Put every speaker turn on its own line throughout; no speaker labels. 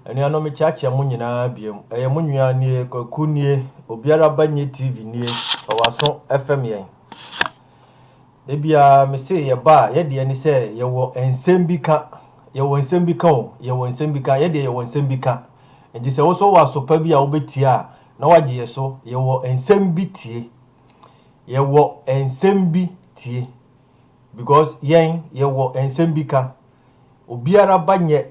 Anuanom mekyeakyea mo nyinaa biom. Ɛyɛ mo nua nie, Kwaku nie, obiara ba nye TV nie, ɔwɔ aso fm yɛn. Da biara me se yɛ ba a, yɛ deɛ ne sɛ yɛwɔ nsɛm bi ka, yɛwɔ nsɛm bi ka o, yɛwɔ nsɛm bi ka, yɛ deɛ yɛwɔ nsɛm bi ka. Nti sɛ woso wɔ aso pa bi a wobɛtie a, na wagye yɛ so, yɛwɔ nsɛm bi tie. Yɛwɔ nsɛm bi tie. Because yɛn, yɛwɔ nsɛm bi ka. Obiara ba nyɛ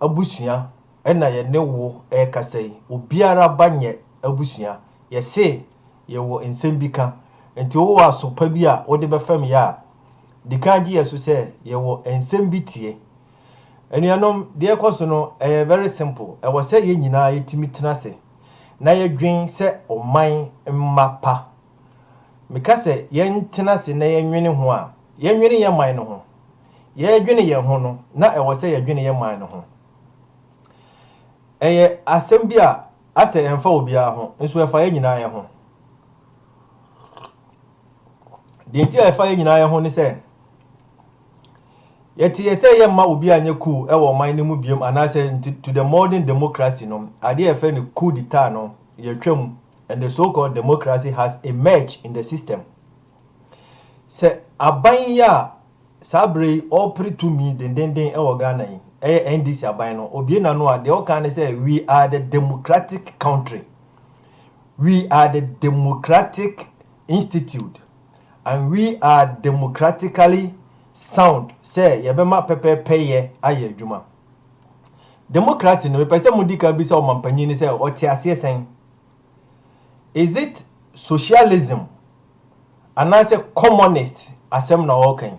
abusua ɛna yɛne wo ɛkasa yi obiara ba nyɛ abusua yɛse yɛwɔ nsɛm bi ka nti wowɔ aso pa bi a wode bɛfɛm yɛ a dikan gye yɛso sɛ yɛwɔ nsɛm bi tie Anuanom deɛ ɛkɔso no ɛyɛ very simple ɛwɔ sɛ yɛn nyinaa yɛtumi tena ase na yɛdwen sɛ ɔman mma pa Meka sɛ yɛntena ase na yɛnwene ho a, yɛnwene yɛn man no ho. Yɛredwene yɛn ho no, na ɛwɔ sɛ yɛdwene yɛn man no ho. Ɛyɛ asɛm bi a asɛ ɛmfa obiara ho, nso ɛfa yɛn nyinaa yɛn ho. Deɛ nti a ɛfa yɛn nyinaa yɛn ho ne sɛ, yɛte yɛ sɛ yɛmma obi anyɛ coup wɔ ɔman no mu biom anaasɛ to the modern democracy no, adeɛ a yɛfrɛ no coup d'etat no, yɛatwam And the so called democracy has emerged in the system. Sɛ aban yi a saa berɛ yi ɔrepere tumi dendenden wɔ Ghana yi, ɛyɛ NDC aban no, obue n'ano a, deɛ ɔka ne sɛ, We are the democratic country. We are the democratic institute. And we are democratically sound sɛ yɛbɛma pɛpɛɛpɛyɛ ayɛ adwuma. Democracy no, mepɛ sɛ modi kan bisa ɔmampanyin no sɛ ɔte aseɛ sɛn? Is it socialism anaasɛ communist asɛm na ɔreka yi?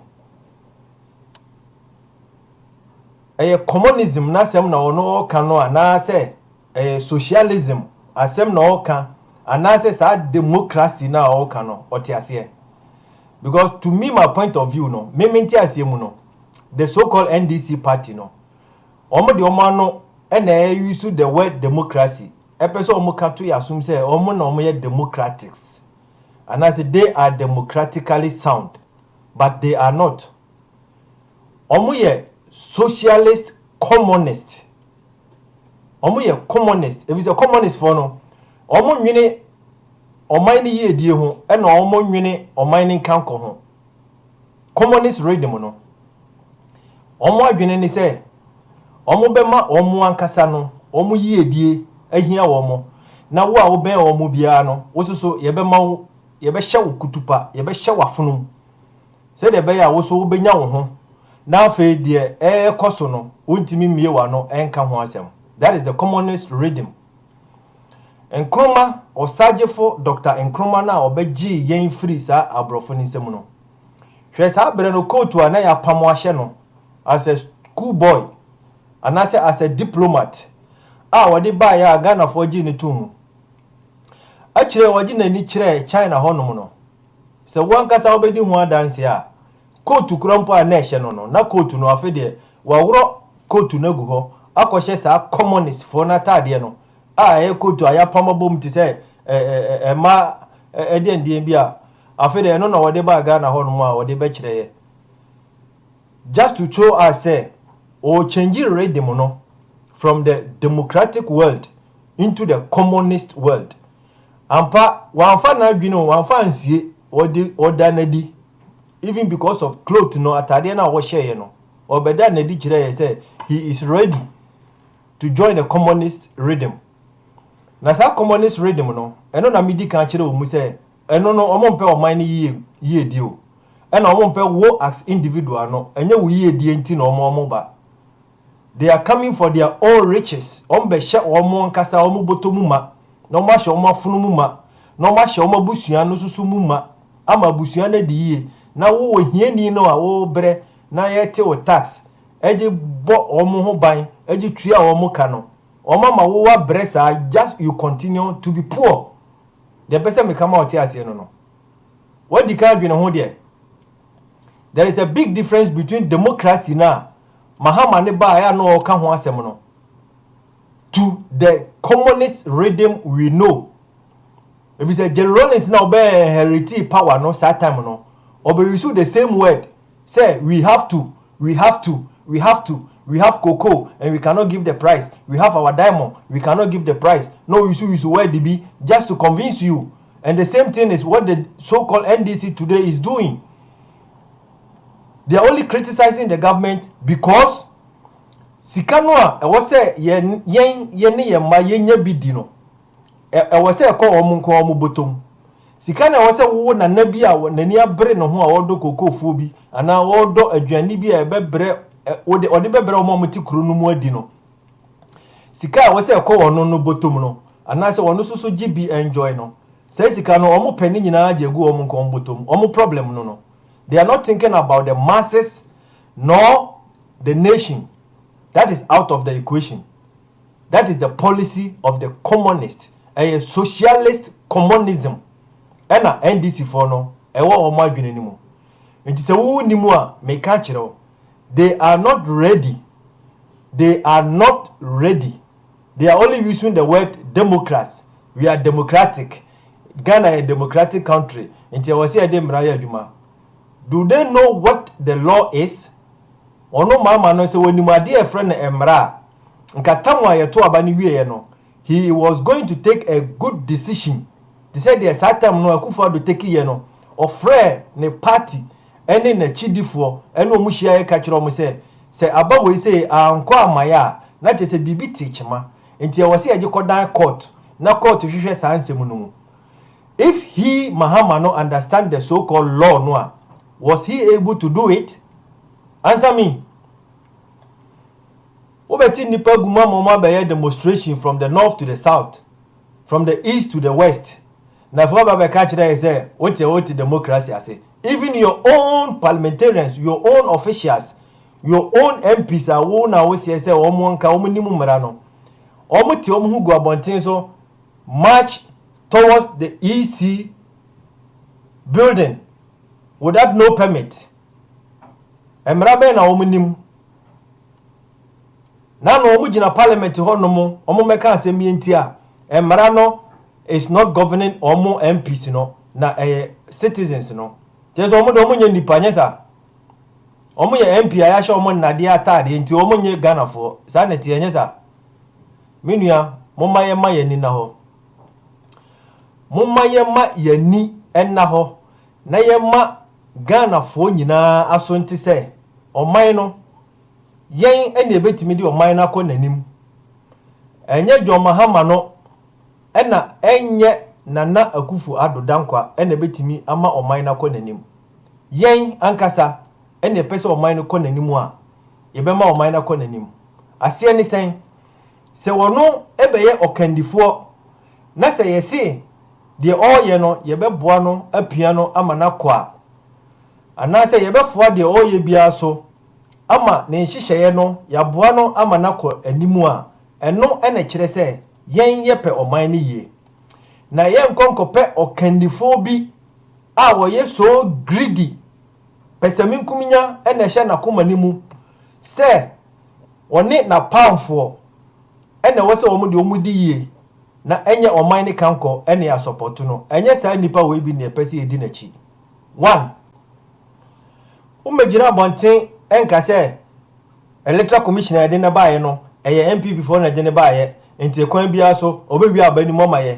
Ɛyɛ communism n'asɛm na ɔno ɔreka no anaasɛ ɛyɛ socialism asɛm na ɔreka anaasɛ saa democracy no a ɔreka no ɔte aseɛ? Because to me my point of view no, me me nte aseɛ mu no, the so called NDC party no, wɔn de wɔn ano na ɛyusu the word democracy. Ɛpɛ sɛ wɔn ka to yɛ asom sɛ wɔn na wɔn yɛ democratics anaasɛ they are democratically sound but they are not. Wɔn yɛ socialist commonist. Wɔn yɛ commonist efisɛ commonist foɔ no wɔn nwene ɔman no yiedie ho ɛna wɔn nwene ɔman no nkankɔ ho. Communist regime no, wɔn adwene ne sɛ wɔbɛma wɔn ankasa no wɔn yiedie ahia wɔn, na wo a wobɛn wɔn biara no, wo nso so yɛbɛma wo, yɛbɛhyɛ wo kutupa, yɛbɛhyɛ wo afonom, sɛdeɛ ɛbɛyɛ a wo nso wobɛnya wo ho, na afei deɛ ɛrekɔ so no, wontumi mmie w'ano nka ho asɛm. That is the communist regime. Nkrumah, Ɔsagyefo Dɔkta Nkrumah no a ɔbɛgyee yɛn firii saa aborɔfo no nsam no. Hwɛ saa berɛ no kootu a na yɛapamo ahyɛ no as a school boy anaasɛ as a diplomat a ɔde baeɛ a Ghanafoɔ gyee no too mu. Akyire yi ɔde n'ani kyerɛɛ China hɔnom no. Sɛ wo ankasa wobɛdi ho adanseɛ a, Kootu korɔ mpo a na ɛhyɛ no no, na kootu no, afe deɛ, waworɔ kootu no agu hɔ akɔhyɛ saa kɔmɔnistfoɔ no ataadeɛ no a ɛyɛ kootu a yɛapam abom te sɛ ɛɛ mmaa ɛdeɛndeɛn bi a, afe deɛ, ɛno na ɔde baa Ghana hɔnom a ɔde bɛkyerɛeɛ just to show us sɛ ɔrechange rhythm no from the democratic world into the communist world. Ampa, wamfa n'adwene o, wamfa ansie, ɔde, ɔda no adi, even because of cloth no, ataadeɛ no a wɔhyɛeɛ no, ɔbɛdaa no adi kyerɛeɛ sɛ he is ready to join the communist rhythm. Na saa communist rhythm no, ɛno na medi kan kyerɛ wɔn sɛ, ɛno no, wɔn mpɛ ɔman no yie, yiedie o, ɛna wɔn mpɛ wo as individual no, ɛnyɛ wo yiedie nti na wɔn wɔn ba. They are coming for their own riches, wɔbɛhyɛ wɔn ankasa wɔn bɔtɔ mu ma, na wɔahyɛ wɔn afono mu ma, na wɔahyɛ wɔn abusua no nso mu ma, ama abusua no adi yie, na wo ohiani no a worebrɛ na yɛte wo tax de bɔ wɔn ho ban de tua wɔn ka no, wɔama wo woabrɛ saa just you continue to be poor. Deɛ ɛpɛ sɛ meka ma wo te aseɛ no no, woadi kan adwene ho deɛ. There is a big difference between democracy no a Mahama ne baeɛ a na ɔreka ho asɛm no to the communist rhythm we know. Ɛfiri sɛ Jerry Rawlings na ɔbɛ inheriti power no saa time no, ɔbɛ use the same word sɛ we have to, we have to, we have to, we have cocoa and we cannot give the price, we have our diamond, we cannot give the price. Na ɔuse use word bi just to convince you And the same thing is what the so called NDC today is doing. They are only criticizing the government because sika no a ɛwɔ sɛ yɛn yɛn yɛne yɛn mma yɛnya bi di no ɛwɔ sɛ ɛkɔ wɔn nko wɔn bɔtɔm sika na ɛwɔ sɛ wowo nana bi a n'ani abere ne ho a ɔredɔ kokofuo bi anaa ɔredɔ aduane bi a ɛbɛbrɛ ɔde ɔde bɛbrɛ wɔn a wɔte kuro no mu adi no sika a ɛwɔ sɛ ɛkɔ wɔn no bɔtɔm no, anaasɛ wɔn nso so gye bi enjoy no, saa sika no wɔn pɛ ne nyinaa gye gu wɔn nko wɔn bɔtɔm, wɔn problem no no, they are not thinking about the masses nor the nation, that is out of the equation, that is the policy of the communist, ɛyɛ socialist communism ɛna NDC foɔ no ɛwɔ wɔn adwene no mu, nti sɛ wo nni mu a meka kyerɛ wo, They are not ready They are not ready They are only using the word democracy We are democratic Ghana yɛ democratic country nti ɛwɔ sɛ yɛde mmara yɛ adwuma Do they know what the law is? Wɔn maama no sɛ wɔnim adeɛ a yɛfrɛ no mmara a, nka tam a yɛto aba no wieeɛ no, He was going to take a good decision te sɛ deɛ saa tam no Akufo-Addo tekiiɛ no, ɔfrɛɛ ne party ne n'akyidifoɔ ne wɔn hyiaeɛ ka kyerɛɛ wɔn sɛ, sɛ aba wei sei ankɔ amaeɛ a, na kyerɛ sɛ biribi te kyema. Nti ɛwɔ sɛ yɛgye kɔdan court na court hwehwɛ saa nsɛm no mu. If he, Mahama no, understand the so called law no a, was he able to do it? Answer me. Wobɛte nnipa gu mu ama wɔabɛyɛ demonstration from the north to the south, from the east to the west, na afei woaba abɛka akyerɛ yɛn sɛ wote wote democracy ase. Even your own parliamentarians, your own officials, your own MPs a wo na woseɛ sɛ wɔn nka wɔn nim mmara no, wɔte wɔn ho gu abɔnten so march towards the EC building without no permit. Mmara bɛn na wɔn nim? na na wɔn gyina parliament hɔ nom wɔn mmɛka asɛm bi nti a mmara no is not governing wɔn MPs no na ɛyɛ citizens no kyerɛ sɛ wɔn de wɔn nyɛ nipa nyɛ saa wɔn yɛ MP a yɛahyɛ wɔn nnadeɛ ataadeɛ nti wɔn nyɛ Ghanafoɔ saa na ɛteɛ nyɛ saa me nua mo ma yɛ ma yɛ ni na hɔ mo ma yɛ ma yɛ ni ɛna hɔ na yɛma Ghanafoɔ nyinaa aso nte sɛ ɔman no, yɛn na yɛbɛtumi de ɔman no akɔ n'anim. Ɛnyɛ John Mahama no na ɛnyɛ Nana Akufo Addo Dankwa na ɛbɛtumi ama ɔman no akɔ n'anim. Yɛn ankasa na yɛpɛ sɛ ɔman no kɔ n'anim a, yɛbɛma ɔman no akɔ n'anim. Aseɛ ne sɛn? Sɛ ɔno bɛyɛ ɔkandifoɔ na sɛ yɛse, Deɛ ɔreyɛ no, yɛbɛboa no apia no ama no akɔ a, anaasɛ yɛbɛfoa deɛ ɔreyɛ biara so ama ne nhyehyɛeɛ no yɛaboa no ama no akɔ anim a, ɛno na ɛkyerɛ sɛ yɛn yɛpɛ ɔman no yie. Na yɛrenkɔ nkɔpɛ ɔkandifoɔ bi a ɔyɛ so greedy Pɛsɛmenkominya na ɛhyɛ n'akoma no mu sɛ ɔne n'apamfoɔ na ɛwɔ sɛ wɔn deɛ wɔdi yie na ɛnyɛ ɔman no kankɔ na yɛasɔpɔto no. Ɛnyɛ saa nipa wei bi na yɛpɛ sɛ yɛdi n'akyi. One, wommɛgyina abɔnten nka sɛ electoral commission a yɛde no baeɛ no ɛyɛ NPP foɔ na ɛde no baeɛ nti ɛkwan biara so ɔbɛwie aba anim ɔma yɛ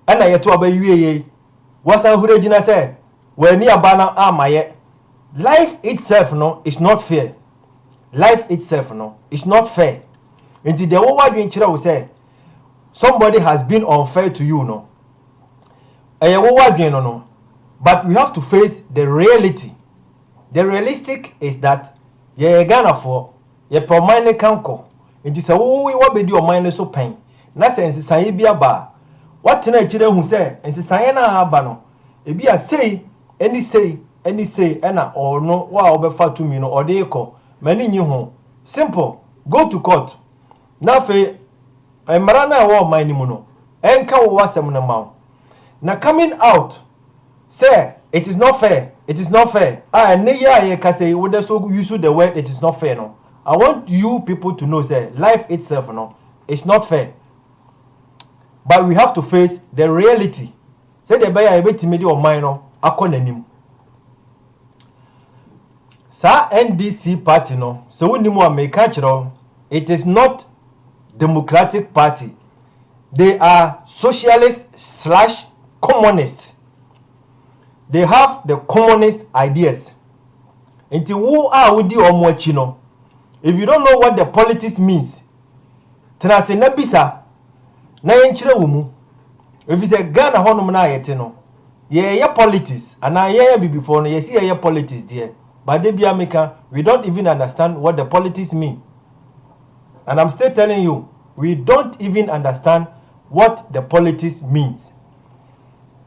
ɛna yɛto aba yie yei wasan hura gyina sɛ W'ani aba no amma yɛ. Life itself no is not fair. Life itself no is not fair. Nti deɛ wo w'adwene kyerɛ wo sɛ somebody has been unfair to you no, ɛyɛ wo w'adwene no no, but we have to face the reality. The realistic is that yɛyɛ Ghanafoɔ, yɛpɛ ɔman no kankɔ. Nti sɛ wo w'abɛdi ɔman no so pɛn na sɛ nsesaeɛ bi aba a, woatena akyire ahu sɛ nsesaeɛ no a aba no, Ebia sei ne sei ne sei na ɔno a ɔbɛfa tumi no ɔde rekɔ. M'ani nnye ho. Simple. Go to court na afei mmara no a ɛwɔ ɔman no mu no nka wo w'asɛm no mma wo. Na coming out sɛ it is not fair, it is not fair a ɛnnɛ yi a yɛrekasa yi wode so use the word it is not fair no, I want you people to know sɛ life itself no is not fair but we have to face the reality. Sɛdeɛ ɛbɛyɛ a yɛbɛtumi de ɔman no akɔ n'anim. Saa NDC party no, sɛ wonim a meka akyerɛ wo, it is not democratic party, they are socialist slash communist, they have the communist ideas. Nti wo a wodi wɔn akyi no, if you don't know what the politics means, Tena ase na bisa na yɛnkyerɛ wo mu. Efisɛ Ghana hɔnom no a yɛte no, yɛɛyɛ politics anaa yɛn Abibifoɔ no yɛse yɛɛyɛ politics deɛ but da biara meka we don't even understand what the politics mean and I'm still telling you we don't even understand what the politics means.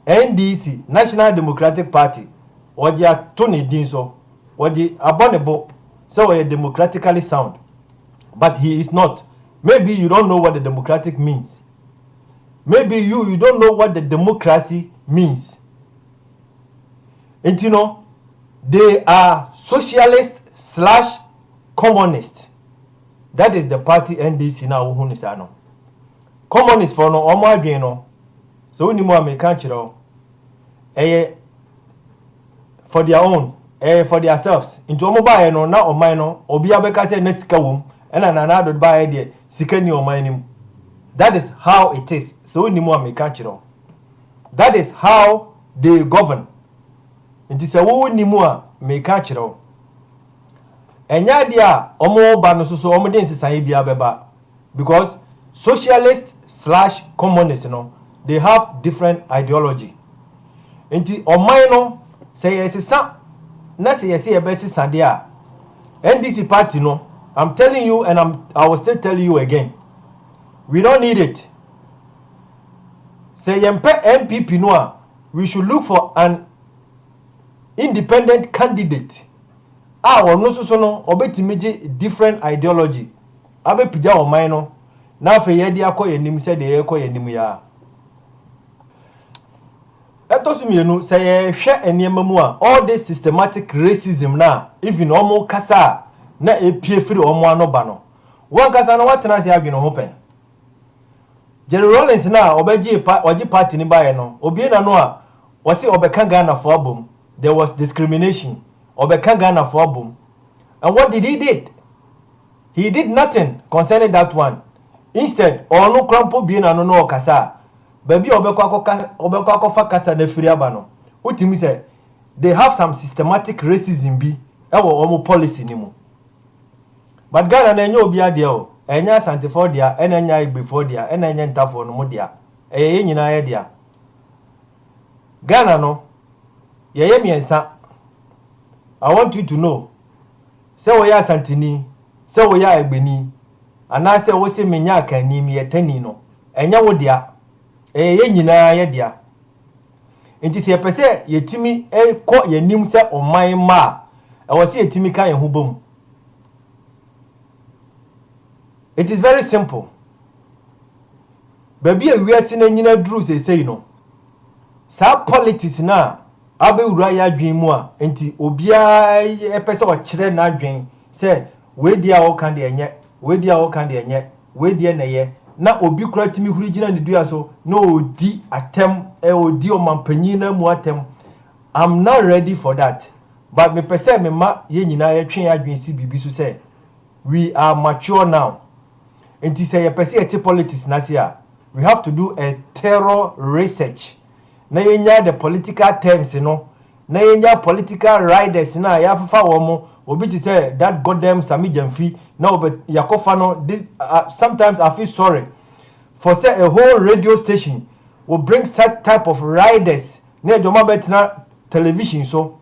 NDC, National Democratic Party, wɔde ato ne din so, wɔde abɔ ne bo sɛ ɔyɛ democratically sound. But he is not, maybe you don't know what the democratic means, maybe you you don't know what the democracy means. Nti no, they are socialist slash communist. That is the party NDC na wohu ne saa no. Communist for no, wɔn adwene no, sɛ wonim a meka kyerɛ wo. ɛyɛ for their own ɛyɛ for their selves nti wɔn baayɛ no na ɔman no obiara bɛka sɛ na sika wɔm ɛna nana adod baayɛ deɛ sika ni ɔman no mu that is how it is sɛ wonim a meka kyerɛ wo that is how they govern nti sɛ wo nim a meka kyerɛ wo ɛnyɛ adeɛ a wɔn ba no soso wɔn de nsesaeɛ biara bɛba because socialist slash communist no they have different ideology nti ɔman no sɛ yɛsesa na sɛ yɛsɛ yɛbɛsesa deɛ a NDC party no I'm telling you and I'm, I will still tell you again we don't need it sɛ yɛmpɛ NPP no a we should look for an independent candidate a ɔno nso so no ɔbɛtumi gye different ideology Abɛpagya ɔman no na afei yɛde akɔ yɛn anim sɛdeɛ yɛrekɔ yɛn anim yi ara. Ɛtɔ so mmienu, sɛ yɛhwɛ nneɛma mu a, all this systematic racism no a even wɔn kasa a na ɛpue firi wɔn ano ba no, wɔn ankasa no wɔatena ase adwene ho pɛn. Jerry Rawlings no a ɔbɛgyee pa ɔgye party no baeɛ no, obue n'ano a ɔse ɔbɛka Ghanafoɔ abom, there was discrimination, ɔbɛka Ghanafoɔ abom and what did he did? He did nothing concerning that one, instead ɔno koraa mpo bue n'ano na ɔkasa a, baabi a ɔbɛkɔ akɔka, ɔbɛkɔ akɔfa kasa no afiri aba no, wotumi hu sɛ they have some systematic racism bi wɔ wɔn policy no mu. But Ghana no ɛnyɛ obiara deɛ o, ɛnyɛ Asantefoɔ dea, ɛna ɛnyɛ Igbefoɔ dea, ɛna ɛnyɛ Ntafoɔ no mo dea, ɛyɛ yɛn nyinaa yɛ dea. Ghana no, yɛyɛ mmiɛnsa. I want you to know. Sɛ woyɛ Asanteni, sɛ woyɛ Agbeni, anaasɛ wose menyɛ Akanni, meyɛ Tani no, ɛnyɛ wo dea. Ɛyɛ yɛn nyinaa yɛ dea. Enti sɛ yɛpɛ sɛ yɛtumi kɔ yɛn anim sɛ ɔman mma a, ɛwɔ sɛ yɛtumi ka yɛn ho bɔ mu. It is very simple. Baabi a wiase no anyina aduru seesei no, saa politics no a abɛwura yɛn adwene mu a nti obiara pɛ sɛ ɔkyerɛ n'adwene sɛ wei deɛ a woka deɛ ɛnyɛ, wei deɛ a woka deɛ ɛnyɛ, wei deɛ na ɛyɛ, na obi koraa tumi huri gyina ne dua so na ɔredi atɛm, ɔredi ɔmanpanin no amu atɛm. I'm not ready for that but mepɛ sɛ mema yɛn nyinaa yɛtwe yɛn adwene si biribi so sɛ we are mature now nti sɛ yɛpɛ sɛ yɛte politics no ase a we have to do a thorough research na yɛnya the political terms no, na yɛnya political riders no a yɛafefa wɔn mo, obi te sɛ that goddamn Sammy Gyamfi, na ɔbɛ, yɛakɔfa no, this, uh, sometimes I feel sorry for sɛ a whole radio station will bring such type of riders na yɛde wɔn abɛtena television so,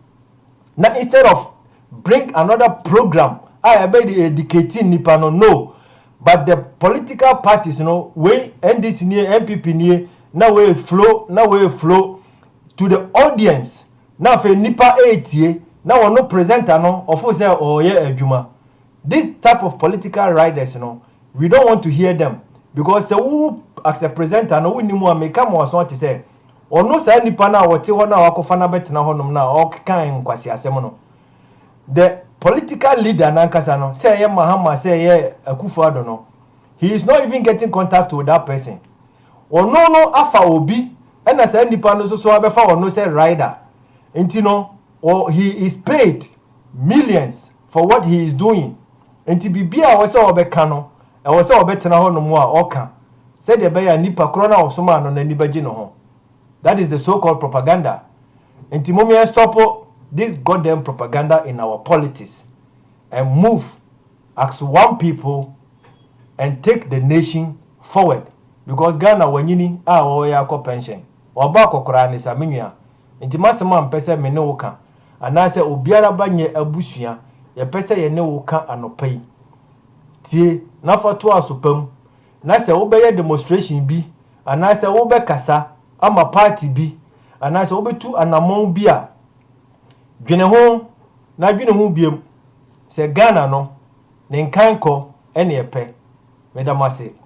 na instead of bring another program a yɛbɛde educate nnipa no, no, But the political parties no wei NDC nie NPP nie na wei flow na wei flow to the audience na afei nnipa ɛretie na wɔno presenter no ɔfo sɛ ɔreyɛ adwuma this type of political riders no we don't want to hear them because sɛ wo as a presenter no wonni mu a meka ma waso ate sɛ ɔno saa nnipa no a wɔte hɔ no a wakɔfa no abɛtena hɔnom no a ɔkeka nkwaseasɛm no the political leader nankasa no sɛ ɛyɛ Mahama sɛ ɛyɛ Akufo Addo no he is not even getting contact with that person ɔno no afa obi ɛna saa nipa no soso abɛfa ɔno sɛ rider nti no he is paid millions for what he is doing nti biribi a ɛwɔ sɛ ɔbɛka no ɛwɔ sɛ ɔbɛtena hɔ nom a ɔka sɛdeɛ ɛbɛyɛ a nipa korɔ no a ɔsomaa no n'ani bɛgye ne ho. That is the so called propaganda nti mom yɛn stop this god damn propaganda in our politics and move ax one people and take the nation forward because Ghana wanyini a ɔreyɛ akɔ pension wabɔ akɔkoraa ne sa menua nti masɛm a mpɛ sɛ me ne wo ka anaa sɛ obiara ba nyɛ abusua yɛpɛ sɛ yɛne wo ka anɔpa yi tie na fa toa so pam na sɛ wobɛyɛ demonstration bi anaasɛ wobɛkasa ama party bi anaasɛ wobetu anamɔn bi a, dwene ho na dwene ho biom sɛ Ghana no ne nkankɔ ne ɛpɛ. Meda mo ase.